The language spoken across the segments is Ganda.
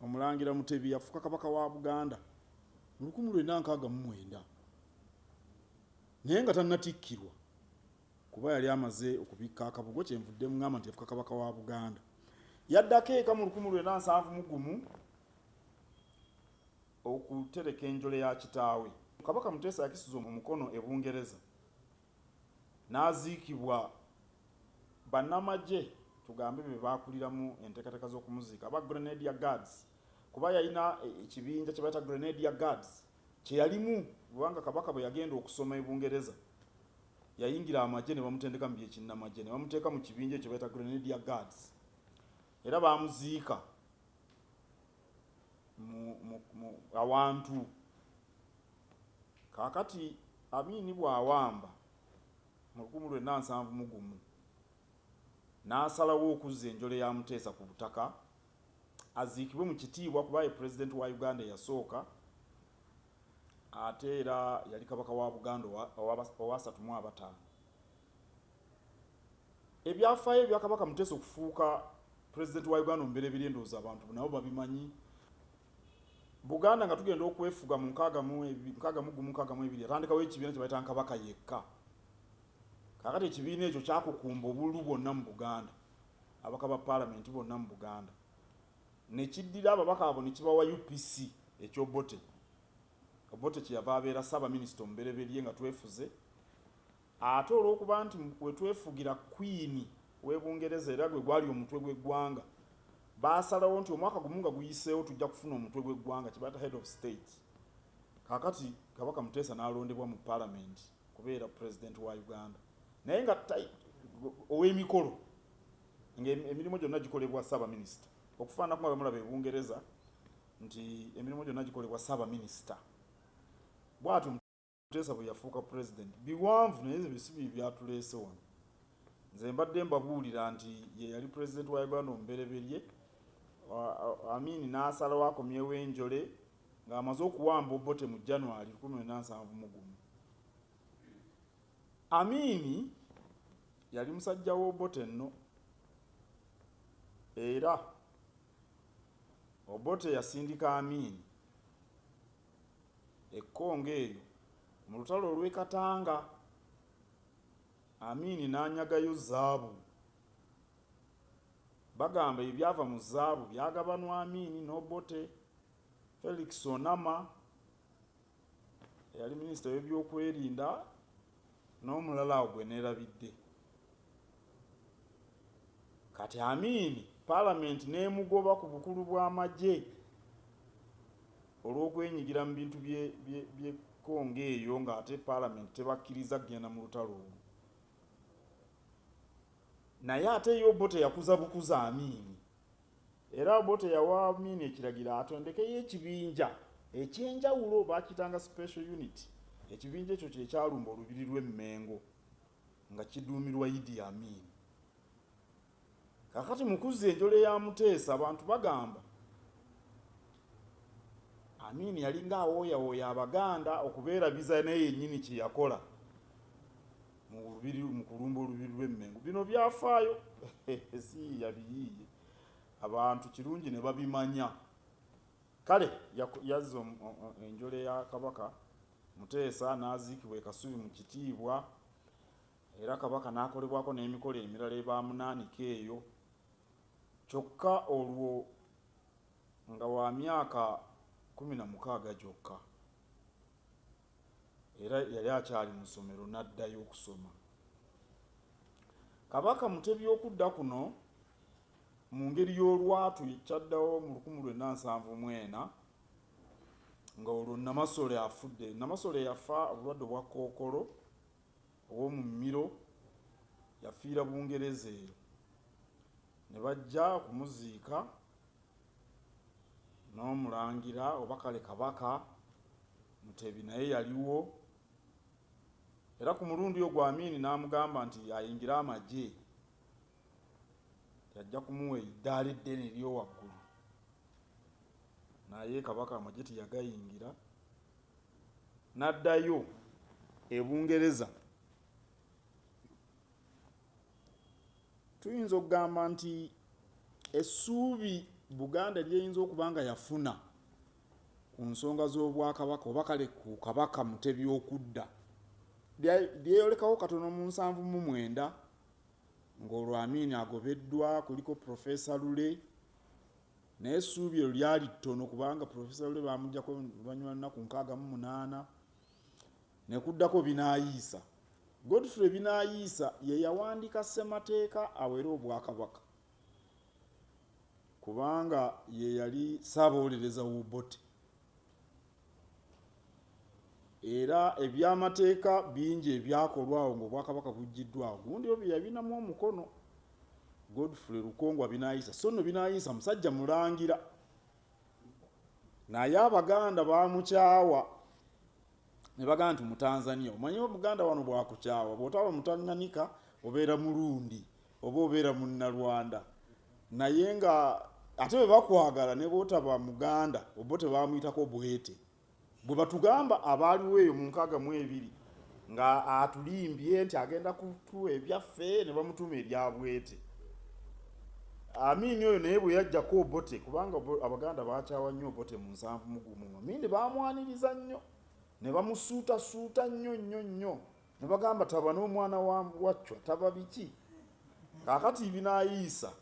Omulangira Mutebi yafuuka Kabaka wa Buganda mu lukumi lwenda nkaaga mu mwenda naye nga tannatikkirwa kuba yali amaze okubikka akabugo kyenvudde mungamba nti yafuka kabaka wa buganda yaddako eka mu lukumi lwena nsanvu mu gumu okutereka enjole ya kitaawe kabaka muteesa yakisiza omukono e bungereza n'aziikibwa. Bannamagye tugambe be baakuliramu enteekateeka z'okumuziika aba Grenadier Guards kuba yalina ekibinja kye bayita Grenadier Guards kye yalimu kubanga Kabaka bwe yagenda okusoma e Bungereza yayingira amagye ne bamutendeka mu by'ekinnamagye ne bamuteeka mu kibinja ekyo bayita Grenadier Guards era baamuziika awantu Kaakati, Amin bw'awamba mu lukumu lwena nsanvu mu gumu, n'asalawo okuzza enjole ya Muteesa ku butaka, aziikibwe mu kitiibwa kuba ye Pulezidenti wa Uganda eyasooka, ate era yali Kabaka wa Buganda owa, owa basatu mu abataano. Ebyafaayo ebya Kabaka Muteesa okufuuka Pulezidenti wa Uganda omubereberye ndowooza abantu nabo babimanyi. Buganda nga tugenda okwefuga mu nkaaga mu ebi- nkaaga mu gumu nkaaga mu ebiri yatandikawo ekibiina kye bayita Nkabaka yekka. Kaakati ekibiina ekyo kyakukumba obululu bwonna mu Buganda, ababaka ba Paalamenti bonna mu Buganda. Ne kiddira ababaka abo ne kibawa UPC eky'Obote. Obote kye yava abeera Ssaabaminisita omubereberye nga twefuze. Ate olw'okuba nti we twefugira Kkwini w'e Bungereza era gwe gwali omutwe gw'eggwanga, baasalawo nti omwaka gumu nga guyiseewo tujja kufuna omutwe gw'eggwanga kye bayita Head of State. Kaakati Kabaka Muteesa n'alondebwa mu Palamenti okubeera Pulezidenti wa Uganda naye nga ow'emikolo ng'emirimu gyonna gikolebwa Ssaabaminisita okufaananako nga bwe mulaba e Bungereza nti emirimu gyonna gikolebwa Ssaabaminisita bw'atyo. Muteesa bwe yafuuka Pulezidenti biwanvu naye ebyo si bye byatuleese wano. Nze mbadde mbabuulira nti ye yali Pulezidenti wa Uganda omubereberye Amin n'asalawo akomyewo enjole ng'amaze okuwamba Obote mu January 1971. Amini yali musajja w'Obote nno era Obote yasindika Amini e Congo eyo mu lutalo olw'e Katanga, Amin n'anyagayo zaabu. Bagamba ebyava mu zaabu byagabanwa Amin n'Obote. Felix Onama eyali minisita w'ebyokwerinda, N'omulala awo gwe neerabidde. Kati Amin Palamenti n'emugoba ku bukulu bw'amagye olw'okwenyigira mu bintu bye Congo eyo ng'ate Palamenti tebakkiriza kugenda mu lutalo olwo. Naye ate yo bo teyakuza bukuza Amin. Era Obote yawa Amin ekiragiro atondekeyo ekibinja eky'enjawulo baakiyitanga Special Unit, ekibinja ekyo kye kyalumba Olubiri lw'e Mmengo nga kiduumirwa Idi Amin. Kaakati mu kuzza enjole ya Muteesa abantu bagamba Amin yalinga awooyawooya Abaganda okubeerabiza naye yennyini kye yakola mu lubiri mu kulumba olubiri lw'e Mmengo. Bino byafaayo siyiiya biyiiye abantu kirungi ne babimanya. Kale yazza enjole ya Kabaka Muteesa n'aziikibwa e Kasubi mu kitiibwa era Kabaka n'akolebwako n'emikolo emirala ebaamunaanika eyo kyokka olwo nga wa myaka kumi na mukaaga gyokka. era yali akyali mu ssomero n'addayo okusoma. Kabaka Mutebi okudda kuno mu ngeri y'olwatu ekyaddawo mu lukumu lwenda nsanvu mwena nga olwo Namasole afudde. Namasole yafa obulwadde obwa kookolo ow'omu mmiro yafiira Bungereza eyo ne bajja okumuziika. n'omulangira oba kale Kabaka Mutebi naye yaliwo era ku mulundi ogwo Amin n'amugamba nti ayingire amagye nti ajja kumuwa eddaala eddene ery'owaggulu naye Kabaka amagye teyagayingira n'addayo e Bungereza. Tuyinza okugamba nti essuubi Buganda ly'eyinza okuba nga yafuna ku nsonga z'Obwakabaka oba kale ku Kabaka Mutebi okudda, lyeyolekawo katono mu nsanvu mu mwenda ng'olwo Amin agobeddwa, kuliko Professor Lule, naye essuubi eryo lyali ttono kubanga Professor Lule baamuggyako oluvannyuma lwa nnaku nkaaga mu munaana. Ne kuddako Binaayiisa. Godfrey Binaayiisa ye yawandiika Ssemateeka awera Obwakabaka kubanga ye yali Ssaabawolereza w'Obote era ebyamateeka bingi ebyakolwa awo ng'Obwakabaka buggyiddwa awo gundi oyo bye yabinamu omukono Godfrey Lukongwa Binaayiisa so nno Binaayiisa musajja mulangira naye Abaganda baamukyawa. ne bagamba nti mutanzania omanyi omuganda wano bwakukyawa bwotaba mutanganika obeera mulundi oba obeera munnalwanda naye nga ate bwe bakwagala ne bwotaba muganda obo tebamuyitako bwete bwe batugamba abaaliwo eyo mu nkaaga mu ebiri nga atulimbye nti agenda kutuwa ebyaffe ne bamutuma ebyabwete Amini oyo naye bwe yajjako Obote kubanga Abaganda baakyawa nnyo Obote mu nsanvu mu gumu. Amini baamwaniriza nnyo ne bamusuutasuuta nnyo nnyo nnyo ne bagamba taba n'omwana wa Waccwa taba biki. Kaakati ibinaayiisa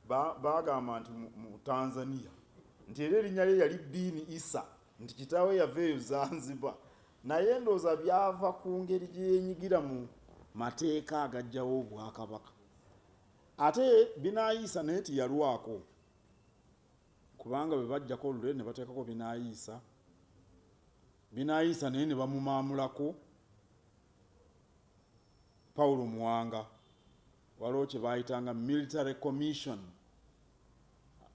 baagamba nti mu Tanzania nti era erinnya lye yali Biini Isa nti kitaawe yava eyo Zanziba naye ndowooza byava ku ngeri gye yenyigira mu mateeka agajjawo Obwakabaka. ate binaayiisa naye teyalwako kubanga bwe bajjako olule ne bateekako binaayiisa binaayiisa naye ne bamumaamulako pawulo muwanga waliwo kye baayitanga military commission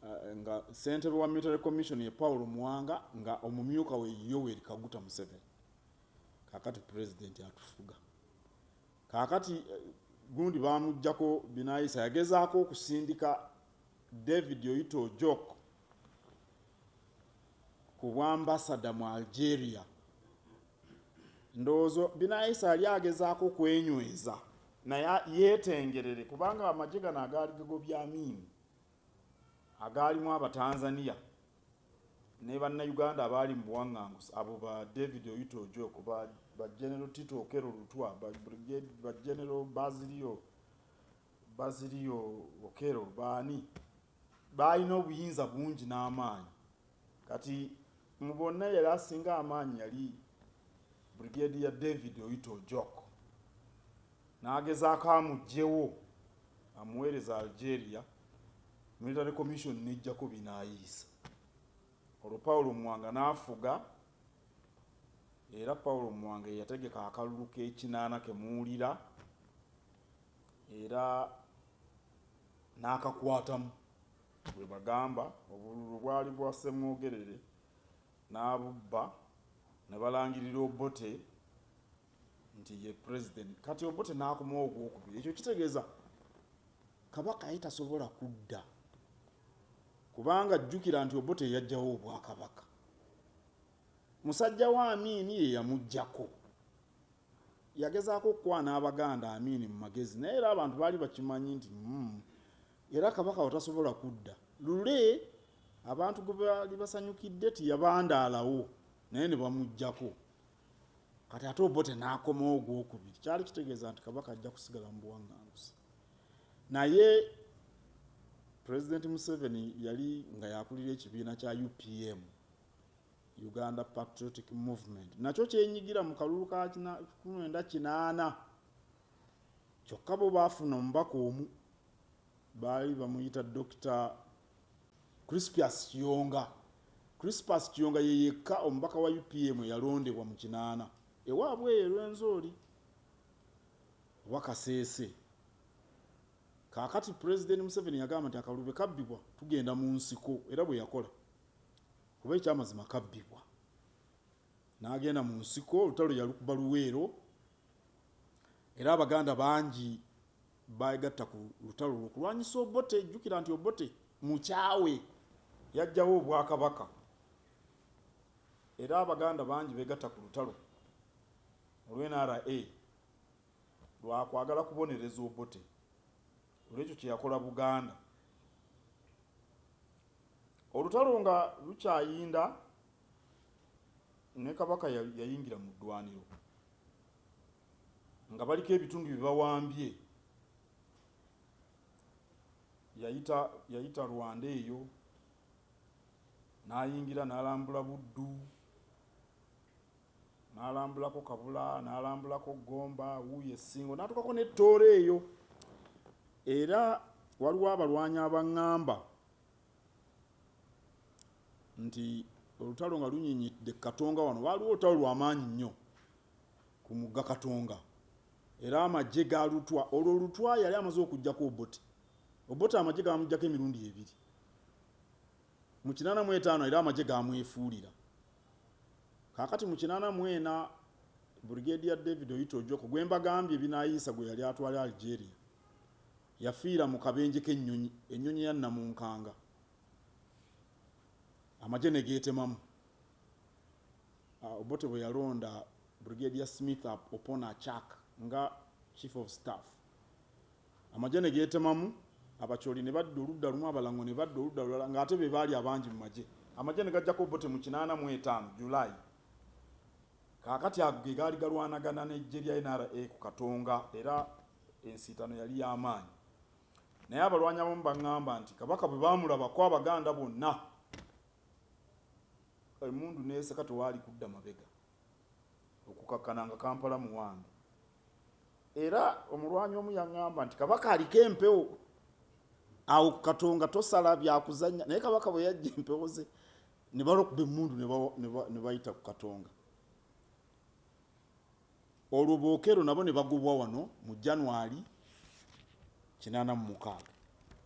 eh, nga ssentebe wa military commission ye pawulo muwanga nga omumyuka we yoweri kaguta museveni kakati pulezidenti atufuga Kaakati gundi baamuggyako binaayisa. Yagezaako okusindika David Oyita Ojok ku bwambasada mu Algeria. Ndowooza binaayisa yali agezaako okwenyweza naye yeetengerere kubanga amagye gano agaali gagobye Amin agaalimu Abatanzania ne Bannayuganda abaali mu buwanganguse abo ba David Oyuto Ojok, ba, ba General Tito Okero Lutwa, ba, Brigade, ba General Bazilio, Bazilio Okero baani baalina obuyinza bungi n'amaanyi Kati mu bonna yali asinga amaanyi yali Brigadier David Oyita Ojok. N'agezaako amuggyewo amuweereze Algeria, Military Commission n'eggyako binaayiisa. Olwo Paulo Muwanga n'afuga era Paulo Muwanga ye yategeka akalulu k'ekinaana ke muwulira era n'akakwatamu. Bwe bagamba obululu bwali bwa Ssemwogerere n'abubba ne balangirira Obote nti ye Pulezidenti kati Obote n'akomawo ogwokubiri. Ekyo kitegeeza Kabaka ye tasobola kudda kubanga jjukira nti Obote yajjawo Obwakabaka. Musajja wa Amiini ye yamuggyako. Yagezaako okukwana Abaganda Amin mu magezi naye era abantu baali bakimanyi nti mm, era Kabaka watasobola kudda. Lule abantu gwe baali basanyukidde tiyabandaalawo naye ne bamuggyako. Kati ate Obote n'akomawo ogwokubiri. Kyali kitegeeza nti Kabaka ajja kusigala mu buwaŋŋanguse. Naye Pulezidenti Museveni yali nga yakulira ekibiina kya UPM. Uganda Patriotic Movement nakyo kyenyigira mu kalulu ka kumwenda kinaana kyokka bo baafuna omubaka omu baali bamuyita Dokita Crispius Kiyonga. Crispus Kiyonga ye yekka omubaka wa UPM eyalondebwa mu kinaana ewaabwe eyo Rwenzori oba Kaseese. Kaakati Pulezidenti Museveni yagamba nti akalulu bwe kabbibwa tugenda mu nsiko era bwe yakola. Kuba ekyamazima kabbibwa. N'agenda mu nsiko, olutalo yalukuba Luweero era Abaganda bangi beegatta ku lutalo olwo okulwanyisa Obote. Jjukira nti Obote mukyawe, yaggyawo Obwakabaka era Abaganda bangi beegatta ku lutalo olw NRA lwa kwagala kubonereza Obote olw'ekyo kye yakola Buganda. Olutalo nga lukyayinda ne Kabaka yayingira mu ddwaniro nga baliko ebitundu bye bawambye yayita yayita Rwanda eyo n'ayingira n'alambula Buddu. n'alambulako Kabula n'alambulako Gomba wuuyo e Ssingo n'atuukako ne Tooro eyo era waliwo abalwanyi abang'amba nti olutalo nga lunyinyidde Katonga wano waaliwo olutalo lw'amaanyi nnyo ku mugga Katonga era amagye ga Lutwa olwo Lutwa yali amaze okuggyako Obote Obote amagye gaamuggyako emirundi ebiri mu kinaana mu etaano era amagye gaamwefuulira Kaakati mu kinaana mu ena, Brigadier David Oyita Ojoko gwe mbagambye Binayisa gwe yali atwala Algeria, yafiira mu kabenje k'ennyonyi, ennyonyi ya nnamunkanga amagye ne geetemamu. Obote bwe yalonda Brigadier Smith Opona Achak nga Chief of Staff, Amagye ne geetemamu, Abacholi ne badda oludda lumu, Abalango ne badda oludda lulala ng'ate be baali abangi mu magye. Amagye ne gaggyako Obote mu kinaana mu etaano, July. Kaakati ago ge gaali galwanagana n'eggye lya NRA ku Katonga era ensiitano yali ya maanyi. Naye abalwanyi abamu baŋŋamba nti Kabaka bwe baamulabako Abaganda bonna emmundu n'eseka tewaali kudda mabega. okukakkana nga kampala muwange era omulwanyi omu yaŋŋamba nti kabaka aliko empewo awo ku katonga tosala byakuzanya naye kabaka bwe yajja empewo ze ne balokuba emmundu ne bayita ku katonga olwo bookero nabo ne bagobwa wano mu january 86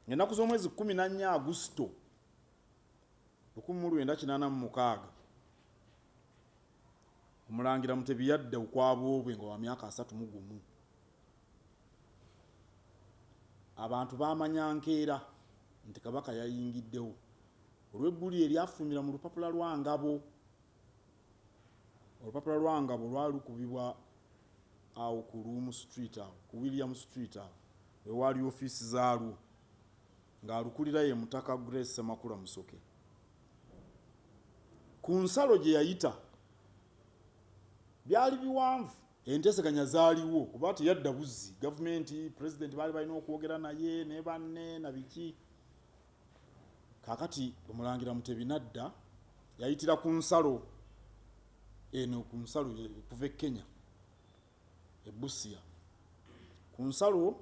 ennaku z'omwezi 14 agusito Lukumi mu lwenda kinaana mu mukaaga, Omulangira Mutebi yadda ukwa bwobwe nga wa myaka asatu mu gumu. Abantu baamanya nkeera nti Kabaka yayingiddewo olw'eggulire eryafuumira mu lupapula lwa Ngabo. Olupapula lwa Ngabo lwali lukubibwa awo ku Luumu Street awo ku William Street awo we waali ofiisi zaalwo ng'alukulira ye Mutaka Grace Ssemakula Musoke. Ku nsalo gye yayita byali biwanvu. Enteeseganya zaaliwo kuba teyadda buzzi. Gavumenti, Pulezidenti baali balina okwogera naye ne banne na biki. Kaakati Omulangira Mutebi n'adda, yayitira ku nsalo eno, ku nsalo okuva e Kenya, e Busia. Ku nsalo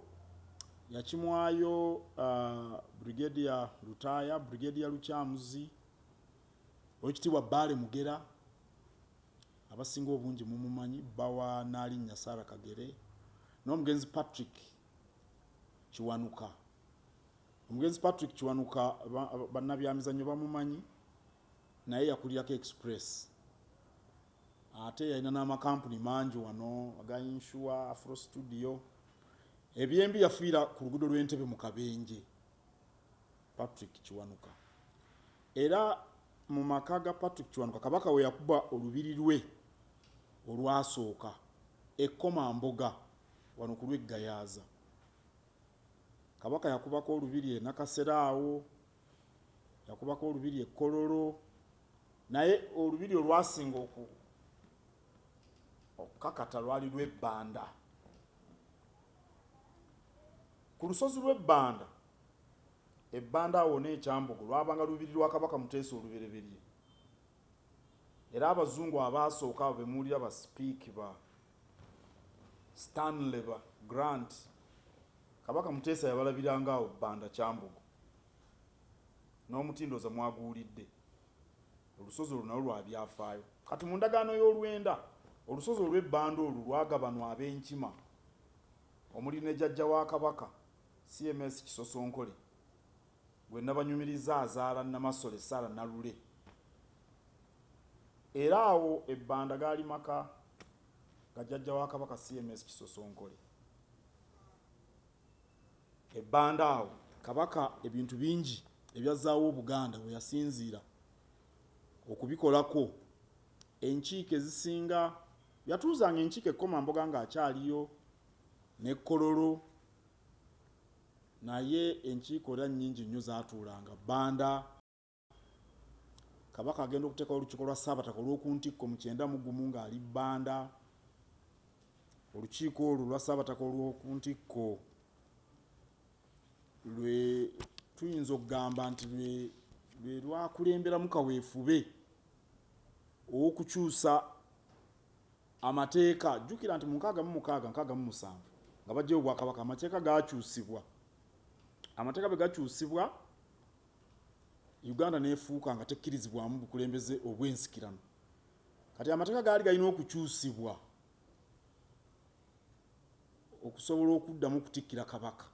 yakimwayo uh, Brigadier Lutaaya, Brigadier Lukyamuzi, Oweekitiibwa Bbaale Mugera, abasinga obungi mumumanyi, bba wa Naalinnya Sarah Kagere, n'omugenzi Patrick Kiwanuka. Omugenzi Patrick Kiwanuka bannabyamizannyo bamumanyi naye yakulirako Express ate yalina n'amakampuni mangi wano aga inshuwa afro studio ebyembi yafiira ku luguudo lw'entebe mu kabenje patrick kiwanuka era mu maka ga patrick kiwanuka kabaka we yakuba olubiri lwe olwasooka ekkoma mboga wano ku lweggayaaza Kabaka yakubako olubiri e Nakasero awo, yakubako olubiri e Kololo, naye olubiri olwasinga oku okukakata lwali lw'ebbanda ku lusozi lw'ebbanda ebbanda awo n'ekyambogo lwabanga lubiri lwa kabaka muteesa olubereberye Era abazungu abaasooka abo bemuwulira ba Speke, ba Stanley, ba Grant, Kabaka Muteesa yabalabiranga awo Banda Kyambogo. N'omuti ndowooza mwaguwulidde. Olusozi olwo nalwo lwa byafaayo. Kati mu ndagaano y'olwenda, olusozi olw'e Banda olwo lwagabanwa Abenkima omuli ne Jajja wa Kabaka, CMS Kisosonkole. Gwe nabanyumirizza azaala Namasole Sarah Nalule era awo e Banda gaali maka ga jjajja wa Kabaka CMS Kisosonkole. E Banda awo Kabaka ebintu bingi ebyazzaawo Obuganda we yasinziira okubikolako enkiiko ezisinga yatuuzanga enkiiko e Komamboga ng'akyaliyo ne Kololo. Naye enkiiko era nnyingi nnyo zaatuulanga Banda. Kabaka agenda okuteekawo olukiiko lwa Ssaabataka olw'oku ntikko mu kyenda mu gumu ng'ali Banda. Olukiiko olwo olwa Ssaabataka olw'oku ntikko lwe tuyinza okugamba nti lwe lwe lwakulemberamu kaweefube ow'okukyusa Amateeka. Jjukira nti mu nkaaga mu mukaaga, nkaaga mu musanvu, nga baggyayo obwakabaka, amateeka gaakyusibwa. Amateeka bwe gakyusibwa, Uganda n'efuuka nga tekkirizibwamu bukulembeze obw'ensikirano. Kati amateeka gaali galina okukyusibwa okusobola okuddamu okutikkira Kabaka.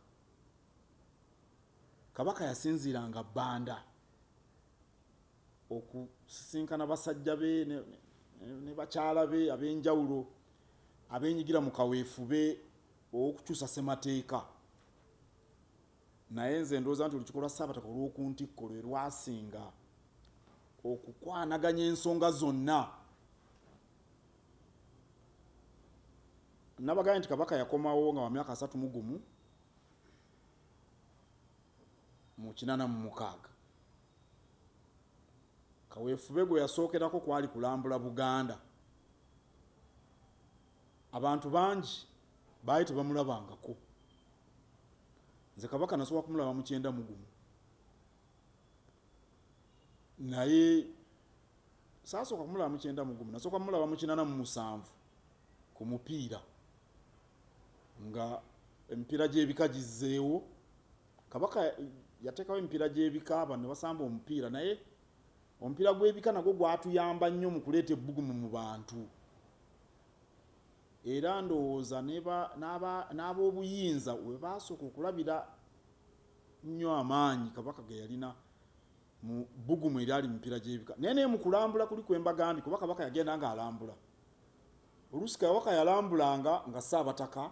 Kabaka yasinziiranga Banda. okusisinkana basajja be ne bakyala be ab'enjawulo abenyigira mu kaweefube ow'okukyusa ssemateeka naye nze ndowooza nti olukiiko lwa ssaabataka olw'oku ntikko lwe lwasinga okukwanaganya ensonga zonna nabagambye nti kabaka yakomawo nga wa myaka asatu mu gumu mu kinana mu mukaaga Kaweefube gwe yasookerako kwali kulambula Buganda. Abantu bangi baali tebamulabangako. Nze Kabaka nasobola kumulaba mu kyenda mu gumu. Naye saasooka kumulaba mu kyenda mu gumu, nasooka mulaba mu kinana mu musanvu ku mupiira nga emipiira gy'ebika gizzeewo. Kabaka yateekawo emipiira gy'ebika, abantu ne basamba omupiira. Naye omupiira gw'ebika nagwo gwatuyamba nnyo mu kuleeta ebbugumu mu bantu, era ndowooza n'ab'obuyinza we baasooka okulabira nnyo amaanyi Kabaka ge yalina mu bbugumu eryali mu mipiira gy'ebika. Naye naye mu kulambula kuli kwe mbagambye, kuba Kabaka yagenda ng'alambula. Oluusi Kabaka yalambulanga nga Ssaabataka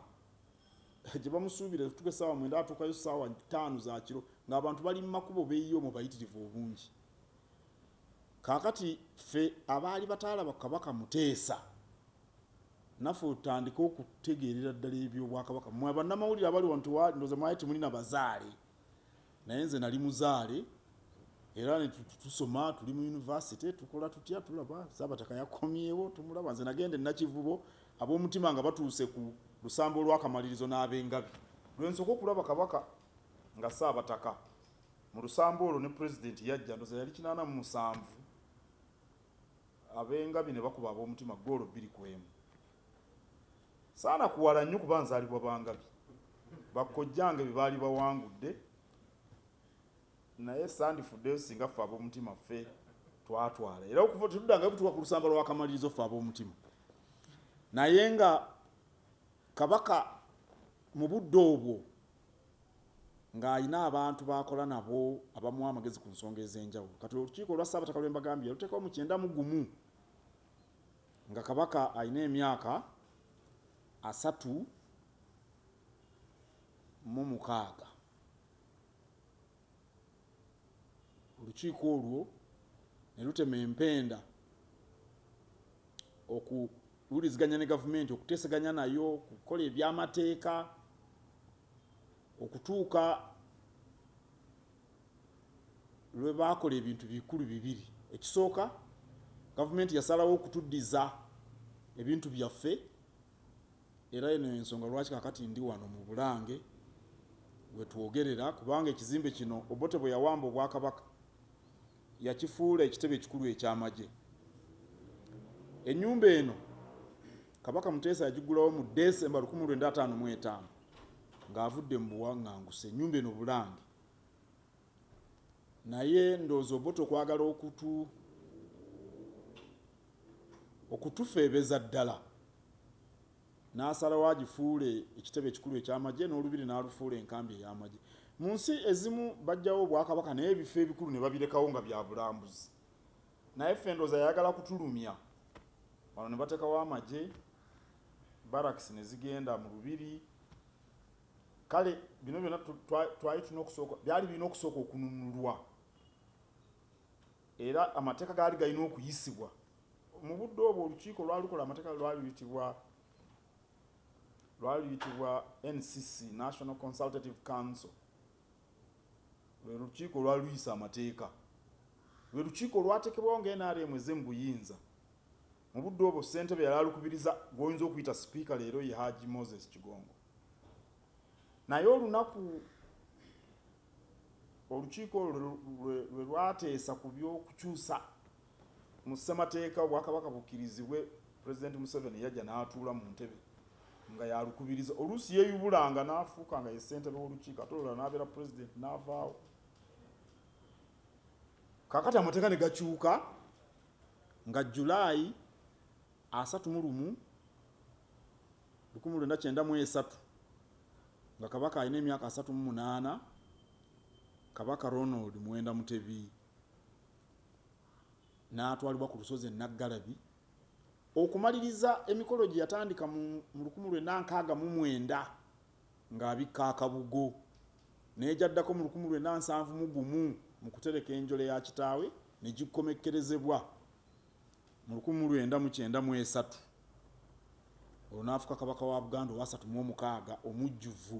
gye bamusuubira okutuuka essaawa mwenda atuukayo ssaawa ttaano za kiro ng'abantu bali mu makubo beeyiye omwo bayitirivu obungi kaakati ffe abaali bataalaba kabaka muteesa naffe otandike okutegeerera ddala ebyobwakabaka mwe abannamawulire abali wano ndoza mwali temuli na bazaale naye nze nali muzaale era tusoma tuli mu yunivasite tukola tutya tulaba saabataka yakomyewo tumulaba nze nagenda enakivubo ab'omutima nga batuuse ku lusambo olwakamalirizo n'abengabi lwensooka okulaba kabaka nga saabataka mu lusambo olwo ne pulezidenti yajja ndoza yali kinaana mu musanvu abengabi ne bakuba ab'omutima goolo bbiri ku emu saana kuwala nnyo kuba nzaalibwa Bangabi. Bakkojjange be baali bawangudde naye sandifuddeyo singa ffe ab'omutima ffe twatwala era okuva tetuddangayo kutuuka ku lusamba lw'akamalirizo ffe ab'omutima naye nga kabaka mu budde obwo ng'alina abantu baakola nabo abamuwa amagezi ku nsonga ez'enjawulo kati olukiiko olwa ssaabataka lwe mbagambye yaluteekawo mu kyenda mu gumu Nga Kabaka alina emyaka asatu mu mukaaga, olukiiko olwo ne lutema empenda okuwuliziganya ne gavumenti, okuteeseganya nayo, okukola eby'amateeka okutuuka lwe baakola ebintu bikulu bibiri. Ekisooka, Gavumenti yasalawo okutuddiza ebintu byaffe era eno y'ensonga lwaki kaakati ndi wano mu Bulange we twogerera kubanga ekizimbe kino Obote bwe yawamba Obwakabaka yakifuula ekitebe ekikulu eky'amagye. Ennyumba eno. Kabaka Muteesa yagiggulawo mu Ddesemba lukumi lwenda ataano mu etaano ng'avudde mu buwanganguse ennyumba eno Bulange. Naye ndowooza Obote okwagala okutu okutufeebeza ddala n'asalawo agifuule ekitebe ekikulu eky'amagye n'olubiri n'alufuula enkambi ey'amagye. Mu nsi ezimu bajjawo Obwakabaka naye ebifo ebikulu ne babirekawo nga bya bulambuzi. Naye ffe ndoza yayagala kutulumya wano nebatekawo amagye barracks nezigenda mu lubiri kale bino byona twali tulina okusooka byali birina okusooka okununulwa era amateeka gaali galina okuyisibwa mu budde obwo olukiiko lwalukola amateeka lwali luyitibwa lwali luyitibwa ncc national consultative council Lwe lukiiko olwali luyisa amateeka. Lwe lukiiko olwatekebwawo nga nrm ezze mu buyinza. Mu budde obwo ssentebe yali alukubiriza gw'oyinza okuyita sipiika leero ye Hajji Moses Kigongo. Naye olunaku olukiiko olwo lwe lwateesa ku by'okukyusa. Mu Ssemateeka Obwakabaka bukkirizibwe, Pulezidenti Museveni yajja n'atuula mu ntebe nga y'alukubiriza. Oluusi yeeyubulanga n'afuuka nga ye ssentebe w'olukiiko ate olulala n'abeera Pulezidenti n'avaawo. Kaakati amateeka ne gakyuka nga Jjulaayi asatu mu lumu lukumi lwenda kyenda mu esatu nga Kabaka alina emyaka asatu mu munaana, Kabaka Ronald Muwenda Mutebi. n'atwalibwa ku lusozi e Naggalabi okumaliriza emikolo gye yatandika mu lukumi lwenda nkaaga mu mwenda ng'abikka akabugo naye gyaddako mu lukumi lwenda nsanvu mu gumu mu kutereka enjole ya kitaawe ne gikkomekkerezebwa mu lukumi lwenda mu kyenda mu esatu olwo n'afuka kabaka wa Buganda owasatu mu omukaaga omujjuvu.